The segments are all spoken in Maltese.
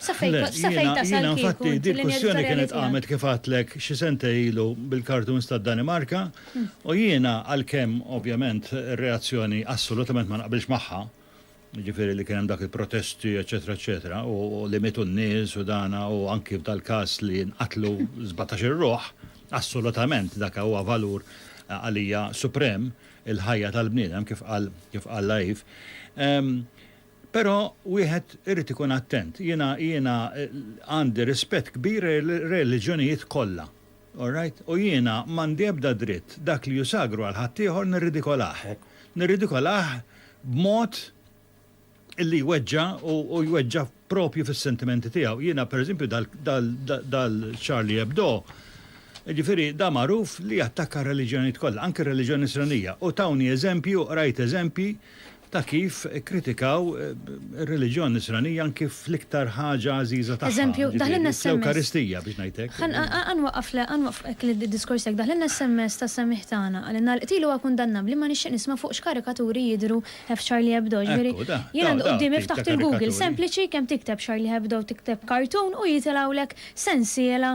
Jiena infatti din il-kwistjoni kienet qamet kif għedtlek xi sentej ilu bil-cartoons tad-Danimarka u jiena għalkemm ovvjament ir-reazzjoni assolutament ma naqbilx magħha, jiġifieri li kien hemm dak il-protesti eċċetera eċċetera u li mietu n-nies u dan u anki f'dal-każ li nqatlu sbatax-il ruħ, assolutament dak huwa valur għalija suprem, il-ħajja tal-bniedem kif qal Laif. Però wieħed irid ikun attent. Jiena, jiena għandi rispett kbir lejr-reliġjonijiet kollha. All right? U jiena m'għandi ebda dritt dak li hu sagru għal ħaddieħor nirridikolah. Nirridikolah b'mod li jweġġa' u u jweġġa' propju fis-sentimenti tiegħu. Jiena pereżempju dal, dal, dal-Charlie Hebdo, jiġifieri da magħruf li jattakka r-reliġjonijiet kollha, anki r-reliġjon Nisranija. U tawni eżempji u qrajt eżempji, ta' kif ikkritikaw ir-reliġjon Nisranija anki fl-iktar ħaġa għażiża tagħha, Eżempju, daħlinna jiġifieri s-SMS. fl-Ewkaristija biex ngħid hekk. Ħa ħa ħa nwaqqaf le ħa nwaqqaf hekk l-diskors tiegħek. Daħlinna s-SMS tas-Semmieħ tagħna. Qalilna l-qtil huwa kundannabbli ma nixtieq nisma' fuq x'karikaturi jidhru f'Charlie Hebdo. Jiġifieri, Ekku, da, jien da, għandi da, quddiemi t-tip ta' ftaħt il-Google karikaturi. sempliċi kemm tikteb Charlie Hebdo tikteb cartoon u jitilgħulek sensiela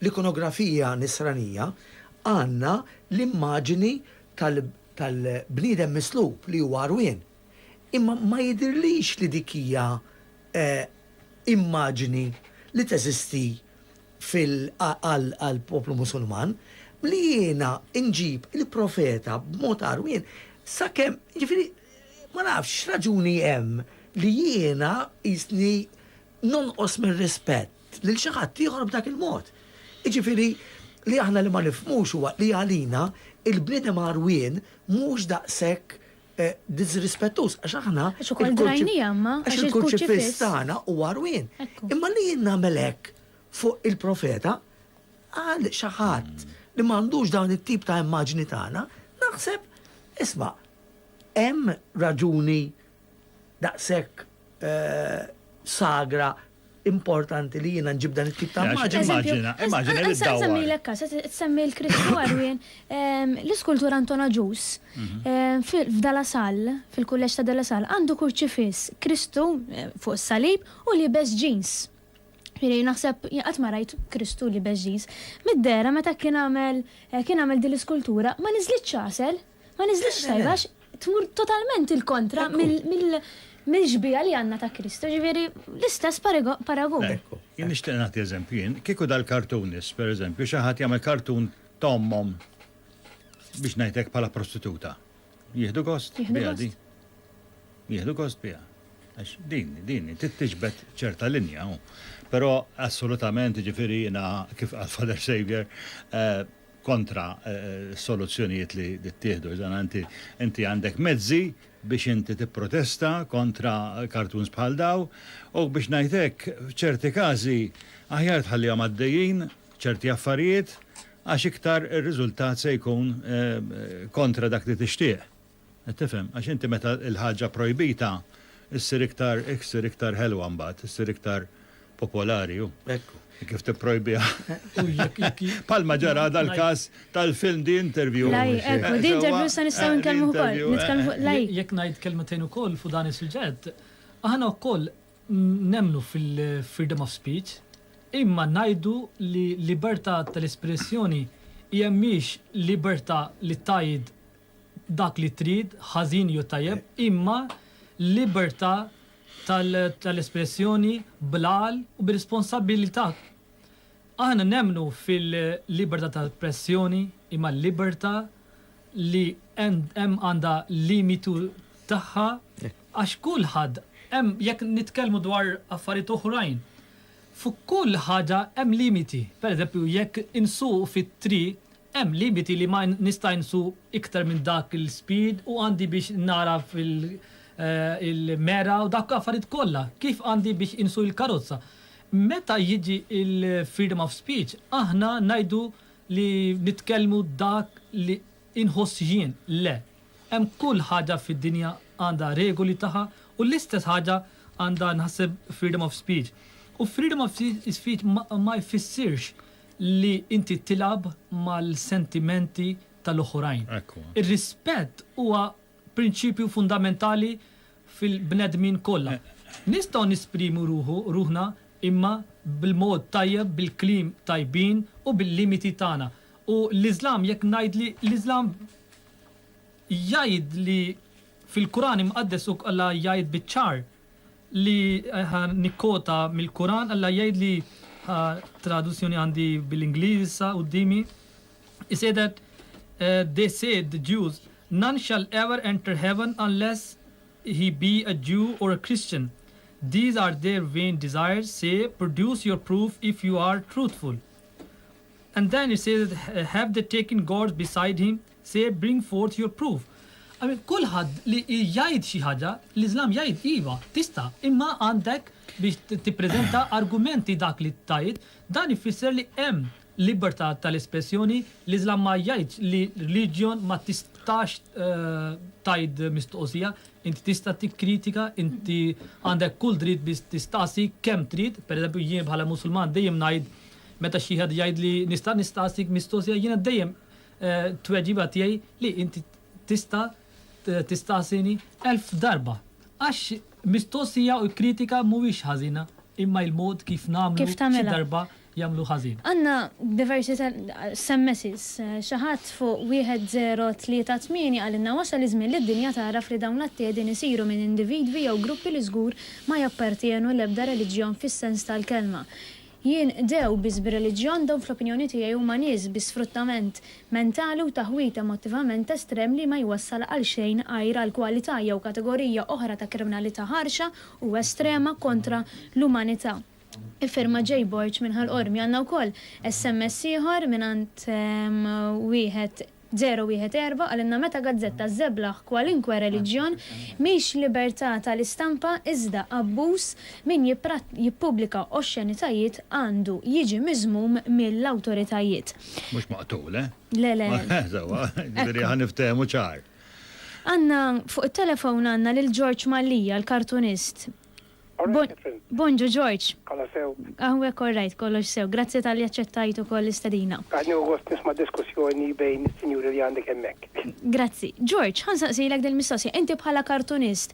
l-ikonografija Nisranija għandna l-immaġini tal-bniedem mislub li huwa għarwien, imma ma jidhirlix li dik hija immaġini li teżisti għall-poplu Musulman, li jiena nġib il-profeta b'mod għarwien sakemm, jiġifieri ma nafx x'raġuni hemm li jiena qisni nonqos mir-rispett. lil xi ħadd ieħor b'dak il-mod. Jiġifieri li aħna li ma nifhmux huwa li għalina il-bniedem għarwien mhux daqshekk diżrispettuż għax aħna għax il-kurċifiss tagħna huwa għarwien. Imma li jien nagħmel hekk fuq il-profeta għal xi ħadd li m'għandux dawn it-tip ta' immaġni tagħna naħseb isma' hemm raġuni daqshekk sagra importanti li jiena nġib dan it-tip ta' immaġni. Immaġina, immaġina li dawwar. Nsemmilek każ, qed semmi l-Kristu għarwien, l-iskultur Anton Agius f'De La Salle, fil-Kulleġġ ta' De La Salle, għandu kurċifiss, Kristu fuq is-salib u liebes ġins. Jiena naħseb jien qatt ma rajt Kristu liebes ġins. Mid-dehra meta kien għamel kien għamel din l-iskultura ma niżlitx għasel. Ma niżlix tajba għax tmur totalment il-kontra mill-ġbija li għandna ta' Kristu, ġifieri l-istess paragun. Ekku, jien nixtieq nagħti eżempju jien, kieku dal-kartunis, pereżempju, xi ħadd jagħmel kartun ta' ommhom biex ngħidlek bħala prostituta. Jieħdu gost biha di. Jieħdu gost biha. Għax din, din, tittiġbed ċerta linja. Però assolutament ġifieri jiena kif għal Father Savior, eh, kontra s-soluzzjonijiet li ttieħdu. Iżda inti inti għandek mezzi biex inti tipprotesta kontra kartuns bħal daw u biex ngħid hekk f'ċerti każi aħjar tħallihom għaddejjin ċerti affarijiet għax iktar ir-riżultat se jkun kontra dak li tixtieq. Qed tifhem? Għax inti meta l-ħaġa projbita ssir iktar hekk ssir iktar ħelwa mbagħad, issir iktar popolari hu. Ekku. Kif tipprojbiha. Palma ġara dal-każ tal-film The Interview. Laj, ekku, The Interview sa nistgħu nkellmu wkoll. Nitkellmu fuq laj. Jekk ngħid kelmetejn ukoll fuq dan is-suġġett, aħna wkoll nemmnu fil-freedom of speech, imma ngħidu li libertà tal-espressjoni hija mhix libertà li tgħid dak li trid, ħażin jew tajjeb, imma l-libertà tal-espressjoni bl-għaqal u bir-responsabbilità. Aħna nemmnu fil-libertà ta' espressjoni, imma l-libertà li hemm għandha limitu tagħha għax kulħadd hemm jekk nitkellmu dwar affarijiet oħrajn, fuq kull ħaġa hemm limiti. Pereżempju, jekk insuqu fit-triq Hemm limiti li ma nista' insu iktar minn dak il-speed u għandi biex nagħraf il-mera u dawk l-affarijiet kollha, kif għandi biex insu il-karozza. Meta jiġi il-freedom of speech aħna ngħidu li nitkellmu dak li inħoss jien, le. Hemm kull ħaġa fid-dinja għandha regoli tagħha u l-istess ħaġa għandha nħasseb freedom of speech. U freedom of speech ma jfissirx li inti tilgħab mal-sentimenti tal-oħrajn. Ir-rispett huwa prinċipju fundamentali fil-bnedmin kollha. Nistgħu nesprimu ruħna imma bil-mod tajjeb, bil-kliem tajbin u bil-limiti tagħna. U l-Iżlam, jekk ngħid li l-Iżlam jgħid li fil-Quran Imqaddes Alla jgħid biċ-ċar li ħa nikkota mill-Quran, Alla jgħid li ħa traduzzjoni għandi bil-Ingliż issa quddiemi, He said that, they said, the Jews, none shall ever enter heaven unless he be a Jew or a Christian, these are their vain desires, say, produce your proof if you are truthful. And then he says have the taken guards beside him say bring forth your proof. I mean kulħadd li jgħid xi ħaġa, l-Iżlam jgħid iva, tista' imma għandek biex tippreżenta argumenti dak li tgħid, dan ifisser li hemm libertà tal-espressjoni, l-Iżlam ma jgħidx li religion ma tistax tgħid mistoqsija, inti tista' tikkritika, inti għandek kull dritt biex tistaqsi kemm trid, pereżempju jien bħala Musulman dejjem ngħid Meta xi ħadd jgħidli nista' nistaqsik mistoqsija jiena dejjem tweġiba tiegħi li inti tista' tistaqsini elf darba. Għax mistoqsija u kritika mhuwiex ħażina imma il-mod kif nagħmlu xi darba jagħmlu ħażin. Għandna diversi SMS's. Xi ħadd fuq 1038 qalilna wasal iż-żmien li d-dinja tagħraf li dawn l-atti qegħdin isiru minn individwi jew gruppi li żgur ma jappartjenu l-ebda reliġjon fis-sens tal-kelma. Jinqdew biss bir-reliġjon, dawn fl-opinjoni tiegħi huma nies bi sfruttament mentali u taħwid emottivament estrem li ma jwassal għal xejn għajr għal kwalità jew kategorija oħra ta' kriminalità ħarxa u estrema kontra l-umanità. Iffirmat Jay Borg minn Ħal Qormi. Għandna wkoll SMS ieħor mingħand wieħed 014 Qalilna meta gazzetta żżeblaħ kwalinkwe reliġjon, mhix libertà tal-istampa iżda abbuż, min jippubblika oxxenitajiet għandu jiġi miżmum mill-awtoritajiet. Mhux maqtul, eh? Le, le. Sewwa, jiġifieri ħa niftehmu ċar. Għandna, fuq it-telefon għandna lil Ġorġ Mallia, l-kartunist. Bonġu George. Kolla sew. Għawek orrajt, kollox sew. Grazzi tal-li aċċettajt u koll istadina. Għadni u għost nisma diskussjoni bejn il-sinjuri li għandek emmek. Grazzi. George, għan saqsijlek dil mistoqsija Inti bħala kartunist,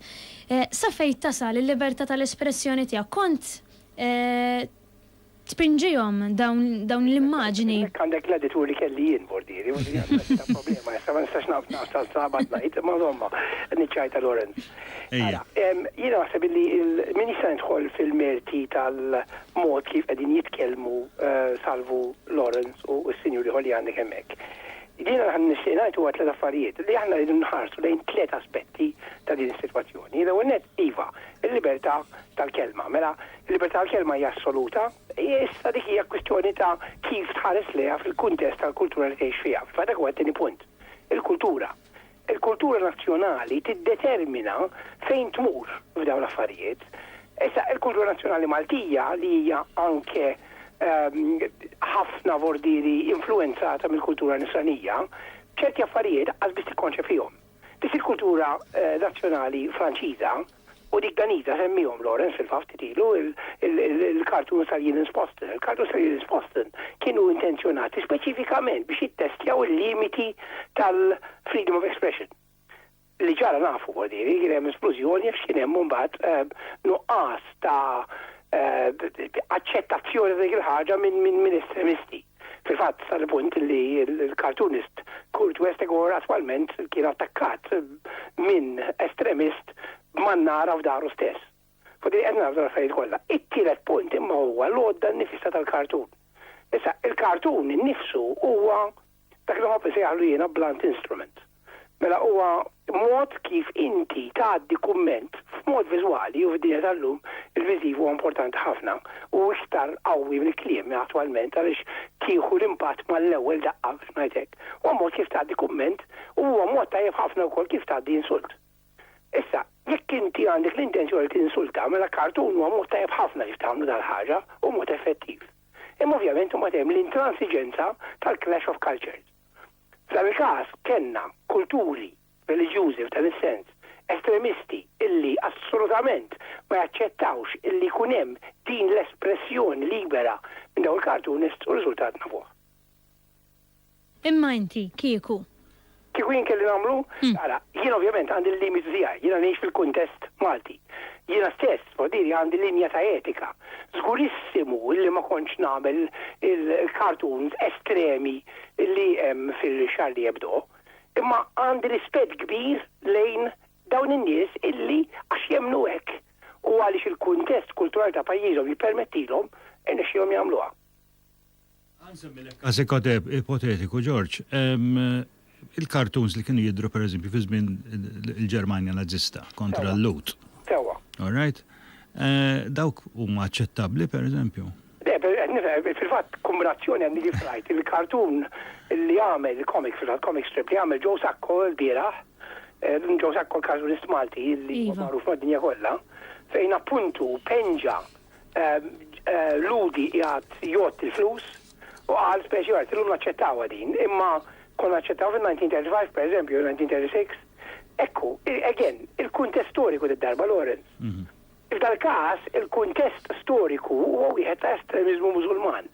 eh, sa fejt tasal il-liberta tal-espressjoni tijak? Kont, eh, Tpinġihom dawn l-immaġni. Hekk għandek gladitur li kelli jien bordieri, u din għandha xi ta' problema issa, ma nistax nasal sa abgħad ngħid, imma żomma, niċċajta Lawrence. Ejja. Jiena naħseb illi min jista' jidħol fil-merti tal-mod kif qegħdin jitkellmu Salvu, Lawrence u s-sinjur ieħor li għandek hemmhekk. Jiena dak li nixtieq ngħid huwa tliet affarijiet, li aħna rridu nħarsu lejn tliet aspetti ta' din is-sitwazzjoni. L-ewwel nett, iva, il-libertà tal-kelma. Mela, Il-libertà tal-kelma hija assoluta. Issa dik hija kwistjoni ta' kif tħares lejha fil-kuntest tal-kultura li tgħix fiha. Fil-fatt dak huwa t-tieni punt. Il-kultura. Il-kultura nazzjonali tiddetermina fejn tmur f'dawn l-affarijiet. Issa, il-kultura nazzjonali Maltija, li hija anke ħafna vordieri influwenzata mill-kultura nisranija, ċerti affarijiet qas biss tikkonċefihom. Dik il-kultura nazzjonali Franċiża u dik Daniża semmiehom Lawrence fil-fatt ftit ilu il-cartoons tal-Jilins Posten. Il-cartoons tal-Jilins Posten kienu intenzjonati speċifikament biex jittestjaw il-limiti tal-freedom of expression. Li ġara nafu bordiri kien hemm esplużjoni għax kien hemm mbagħad eh, nuqqas ta' eh, aċċettazzjoni dik il-ħaġa minn estremisti. Fil-fatt, sal-punt li l-cartoonist Kurt Westergaard attwalment kien attakkat minn estremist b'mannara f'daru stess. Fuq din qed nagħrfu l-affarijiet kollha. It-tielet punt imma huwa l-għodda nnifisha tal-kartun. Issa, il-kartun innifsu huwa dak li nħobb insejjaħlu jiena blunt instrument. Mela huwa mod kif inti tgħaddi kumment f'mod viżwali u fid-dinja tal-lum il-viżiv huwa importanti ħafna u iktar qawwi mill-kliem attwalment għaliex tieħu l-impatt mal-ewwel daqqa biex ngħid hekk. Huwa mod kif tgħaddi kumment u huwa mod tajjeb ħafna wkoll kif tgħaddi insult. Issa, jekk inti għandek l-intenzjoni li tinsulta mela kartun huwa mod tajjeb ħafna kif tagħmlu dal-ħaġa u mod effettiv. Imma ovvjament imbagħad hemm l-intransiġenza tal-clash of cultures. F'dan il-każ kellna kulturi reliġjużi f'dan is-sens estremisti illi assolutament ma jaċċettawx illi jkun hemm din l-espressjoni libera minn dawn il-cartoonists u r-riżultat nafuh. Imma inti kieku? Kieku jien kelli nagħmlu? Ara, jien ovvjament għandi l-limiti tiegħi, jiena ngħix fil-kuntest Malti. Jiena stess, f'ħdiri, għandi linja ta' etika. Żgurissimu li ma kontx nagħmel il-cartoons estremi li hemm fil-Charlie Hebdo. Imma għandi rispett kbir lejn dawn in-nies illi għax jemmnu hekk u għaliex il-kuntest kulturali ta' pajjiżhom jippermettilhom, irnexxielhom jagħmluha. Għansemmilek każ ipotetiku, George. Il-kartuns li kienu jidru per eżempju fi żmien il-Ġermanja Nazista kontra l-Lut. Sewa. All right? Eh, dawk huma aċċettabbli per eżempju? fil-fatt kumbrazzjoni għandi kif rajt il-kartun li għamel il-komik fil-fatt komik strip li għamel Joe Sacco l-bieraħ eh, Joe Sacco l-kartunist Malti li iva. magħruf mad-dinja kollha fejn appuntu penġa Lhudi qiegħed jgħodd il-flus u qal speċi art. Illum naċċettawha din, imma konna naċċettawha fin-1935, pereżempju, jew 1936. Hekk hu. Again, il-kuntest storiku did-darba, Lawrence. F'dal-każ, il-kuntest storiku huwa wieħed ta' estremiżmu Mużulman.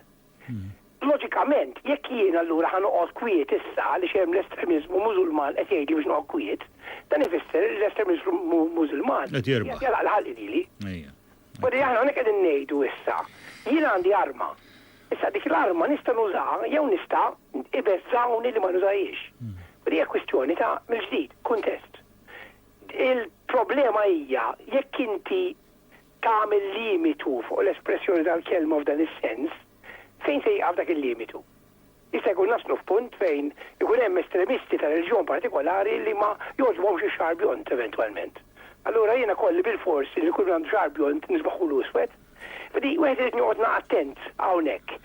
Loġikament, jekk jien allura ħa noqgħod kwiet issa għaliex hemm l-estremiżmu Mużulman qed jgħidli biex noqgħod kwiet, dan ifisser li l-estremiżmu Mużulman qed jagħlaq l-ħalq lili. Weri aħna hawnhekk qegħdin ngħidu issa, jien għandi arma. Issa dik l-arma nista' nużaha jew nista' ibeżżgħuni li ma nużahiex. Weri hija kwistjoni ta' mill-ġdid, kuntest. Il-problema hija jekk inti tagħmel limitu fuq l-espressjoni tal-kelma f'dan is-sens, fejn se jieqaf dak il-limitu? Jista' jkun naslu f'punt fejn ikun hemm estremisti ta' reliġjon partikolari li ma jogħġbuhomx ix-xagħar bjond eventwalment. Allura jiena kolli bilfors li lil kull min għandu xagħar bjond nisbaħulu iswed? Ġifieri wieħed irid joqgħod na' attent hawnhekk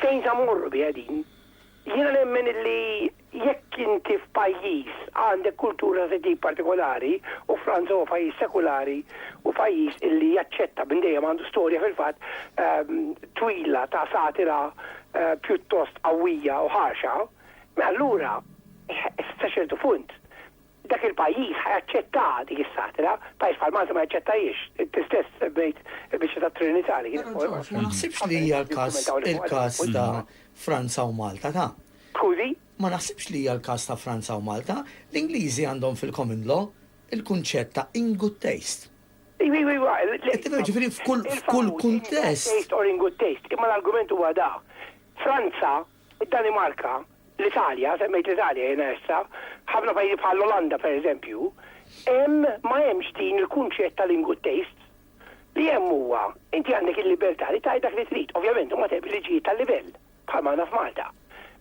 fejn sa mmorru biha din. Jiena nemmen illi Jekk inti f'pajjiż għandek kultura ta' tip partikolari, u Franza huwa pajjiż sekulari u pajjiż illi jaċċetta minn dejjem għandu storja fil-fatt twila ta' satira pjuttost qawwija u ħarxa, mela allura sa ċertu punt dak il-pajjiż ħa jaċċetta dik is-satra, pajjiż bħal Malta ma jaċċettahiex. Inti stess semmejt il-biċċa tat-Trinità li kienet fuq il-Qorti. Ma naħsibx li hija l-każ il-każ ta' Franza u Malta, ta'. Skużi? Ma naħsibx li hija l-każ ta' Franza u Malta. L-Ingliżi għandhom fil-common law il-kunċett ta' in good taste. Iva, iva, iva. Qed tifhem, ġifieri f'kull kuntest. In good taste or in good taste, imma l-argument huwa da. Franza Id-Danimarka, l-Italja, semmejt l-Italja jiena issa, ħafna pajjiżi bħall-Olanda pereżempju, hemm ma hemmx din il-kunċett ta' lingua taste. Li hemm huwa, inti għandek il-libertà li tgħid dak li trid, ovvjament huma tebi liġijiet tal-livell, bħalma għandna f'Malta.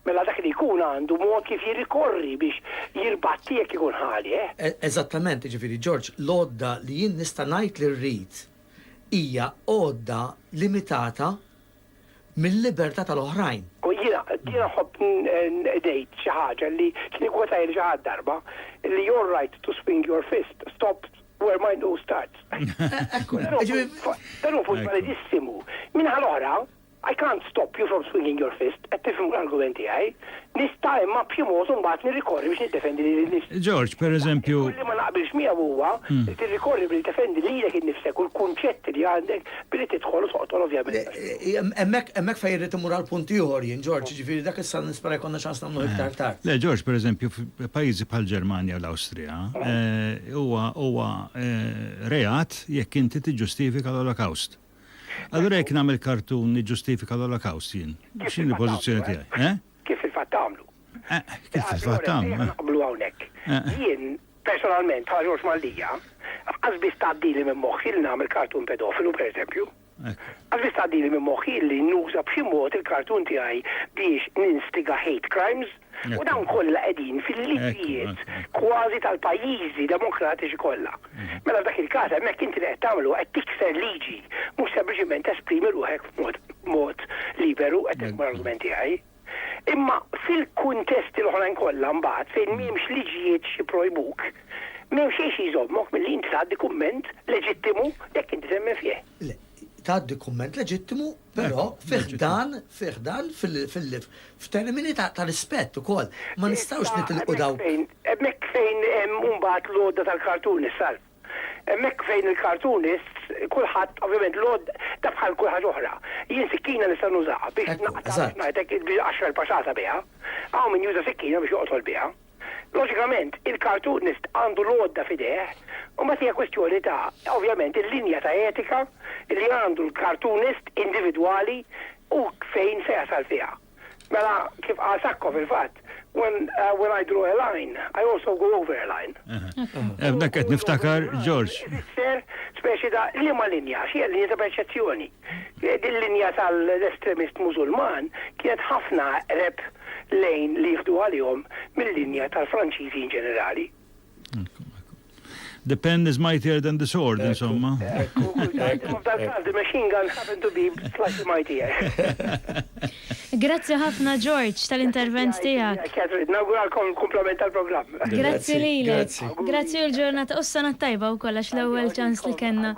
Mela dak li jkun għandu mod kif jirrikorri biex jirbatti jekk ikun ħaleh. Eżattament, jiġifieri George, l-għodda li jien nista' ngħid li rrid hija għodda limitata, mill-libertà tal-oħrajn. U jiena, jiena nħobb ngħid xi ħaġa li kien ikkwotajha lil xi ħadd darba, li you're right to swing your fist, stop where my nose starts. Ekku, jiġifieri dan hu punt validissimu. Min-naħa l-oħra, I can't stop you from swinging your fist, qed tifhem l-argument tiegħi, nista' imma b'xi mod imbagħad nirrikorri biex niddefendi lili nnifsi. George, pereżempju. Li ma naqbilx miegħu huwa li tirrikorri billi tiddefendi lilek innifsek u l-kunċetti li għandek billi tidħol u toqtol ovvjament. Hemmhekk fejn irrid immur għal punt ieħor jien, George, jiġifieri dak issa nispera jkollna ċans nagħmluh iktar tard. Le, George, pereżempju, f'pajjiżi bħall-Ġermanja u l-Awstrija, huwa reat jekk inti tiġġustifika l-Olokawst. Allura jekk nagħmel kartun niġġustifika l-Olokawst jien, x'inhi l-pożizzjoni tiegħi? Kif fil-fatt għamlu. Eh, kif fil-fatt għamlu. Eh? Naqblu hawnhekk. Eh. Jien personalment bħala Ġorġ Maldija, qas biss tgħaddili minn moħħi li nagħmel kartun pedofilu pereżempju. Għazbis għaddili minn moħi li nuża b'xi mod il-kartun tiegħi biex ninstiga hate crimes u dawn kollha qegħdin fil-liġijiet kważi tal-pajjiżi demokratiċi kollha. Mela f'dak il-każ hemmhekk inti li qed tagħmlu qed tikser liġi, mhux sempliċiment tesprimi ruħek b'mod b'mod liberu qed nifhmu l-argument tiegħi. Imma fil-kuntesti l-oħrajn kollha mbagħad fejn m'hemmx liġijiet xi projbuk, m'hemm xejn xi jżommok milli inti tgħaddi kumment leġittimu jekk inti temmen fih. Le, tgħaddi kumment leġittimu, però fi ħdan, fi ħdan f'termini ta' rispett ukoll. Ma nistgħux nitilqu dawn. Hemmhekk fejn hemm imbagħad l-għodda tal-cartoonist, Ralph. Hemmhekk fejn il-cartoonists, kulħadd ovvjament l-għodda, dan bħal kull ħaġa oħra. Jien sikkina nista' nużaha biex naqta' biex ngħidlek għaxra l-patata biha. Hawn min juża sikkina biex joqtol biha. Loġikament, il-cartoonist għandu l-għodda f'idejh, u mbagħad hija kwistjoni ta', ovvjament, il-linja ta' etika li għandu l-cartoonist individwali u fejn se jasal fiha. Mela, kif qal Sacco fil-fatt, when, uh, when I draw a line, I also go over a line. Ebda eh, qed niftakar, George. Isser, speċi da' liema linja, xie linja ta' perċezzjoni. Il-linja tal-estremist Mużulman kienet ħafna aqreb lejn li jieħdu għalihom mil-linja tal-Franċiżi in ġenerali. The pen is mightier than the sword, insomma. F'dal-każ, the machine gun happened to be slightly mightier. Grazzi ħafna George tal-intervent tiegħek. Nawguralkom kumplament tal-programm. Grazzi lilek. Grazzi u l-ġurnata u s-sena t-tajba wkoll għax l-ewwel ċans li kellna.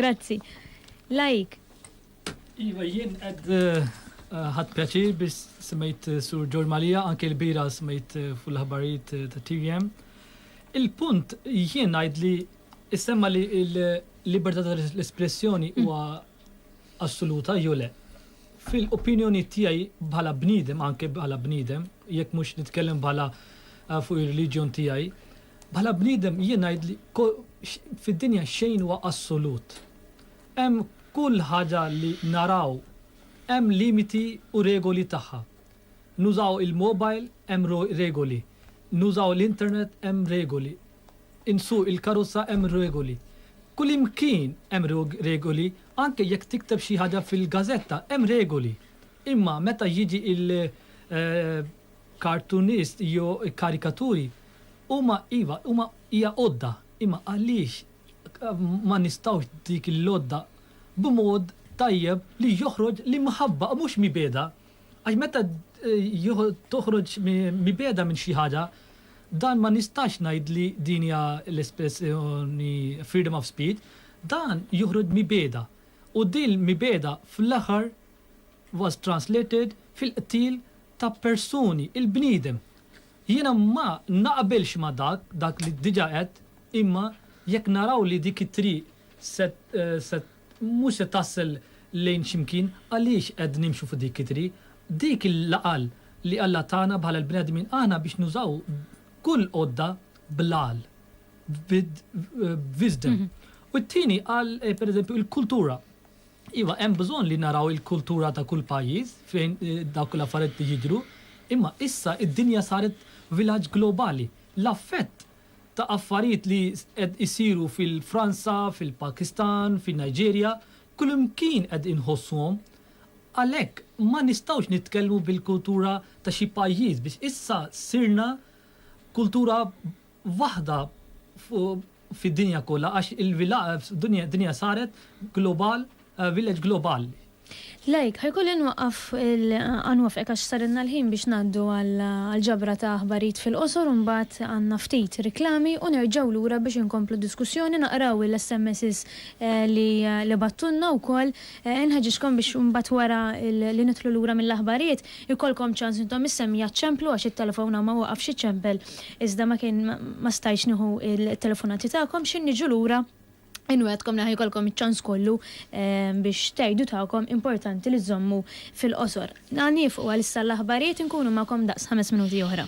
Grazzi. Laik. Iva jien qed ħadt pjaċir biex semmejt Sur George Malija anke l-bira semmejt fuq l-aħbarijiet ta' TVM. Il-punt jien ngħid li issemma li l-libertà tal-espressjoni huwa assoluta jew le. Fil-opinjonijiet tiegħi bħala bniedem, anke bħala bniedem, jekk mhux nitkellem bħala fuq ir-reliġjon tiegħi, bħala bniedem jien ngħid li fid-dinja xejn huwa assolut. Hemm kull ħaġa li naraw hemm limiti u regoli tagħha. Nużaw il-mobile hemm regoli, nużaw l-internet hemm regoli. Insuq il-karozza hemm regoli. Kullimkien hemm regoli, anke jekk tikteb xi ħaġa fil-gażetta hemm regoli. Imma meta jiġi l-cartoonist jew il-karikaturi, huma iva, huma hija għodda, imma għaliex ma nistgħux dik l-għodda b'mod tajjeb li joħroġ l-imħabba u mhux mibegħda? Għax meta toħroġ mibegħda minn xi ħaġa, dan ma nistax ngħid li din hija l-espressjoni freedom of speech, dan joħroġ mibegħda. U din l-mibegħda fl-aħħar was translated fil-qtil ta' persuni, il-bniedem. Jiena ma naqbilx ma' dak, dak li diġà għedt, imma jekk naraw li dik it-triq se Mhux se tasal lejn x'imkien għaliex qed nimxu fuq dik it-triq. Dik hi l-għaqal li Alla tana bħala l-bnedmin aħna biex nużaw kull għodda bl-għaqal, b'wisdom. U t-tieni qal pereżempju il-kultura. Iva hemm bżonn li naraw il-kultura ta' kull pajjiż fejn dawk l-affarijiet jidhru, imma issa d-dinja saret vilaġġ globali. L-affett ta' affarijiet li qed isiru fil-Franza, fil-Pakistan, fin-Nigeria, kullimkien qed inħossuhom. Għalhekk ma nistgħux nitkellmu bil-kultura ta' xi pajjiż biex issa sirna kultura waħda fid-dinja kollha għax il-villagg, id-dinja saret global. Village Global. Like, ħa jkolli nwaqqaf il-qanwaff hekk għax sarilna l-ħin biex ngħaddu għall-ġabra ta' aħbarijiet fil-qosor u mbagħad għandna ftit riklami u nerġgħu lura biex inkomplu diskussjoni naqraw il-SMSs li bagħttulna wkoll inħeġġiġkom biex mbagħad wara li nidħlu lura mill-aħbarijiet ikollkom ċans intom is-semmija ċċemplu għax it-telefon hawn ma waqafx iċċempel iżda ma kien ma stajtx nieħu t-telefonati tagħkom x'inniġu lura Inwegħedkom li ħa jkollkom iċ-ċans kollu biex tgħidu tagħkom, importanti li żżommu fil-qosor. Ħa nieqfu għalissa l-aħbarijiet, inkunu magħkom daqs ħames minuti oħra.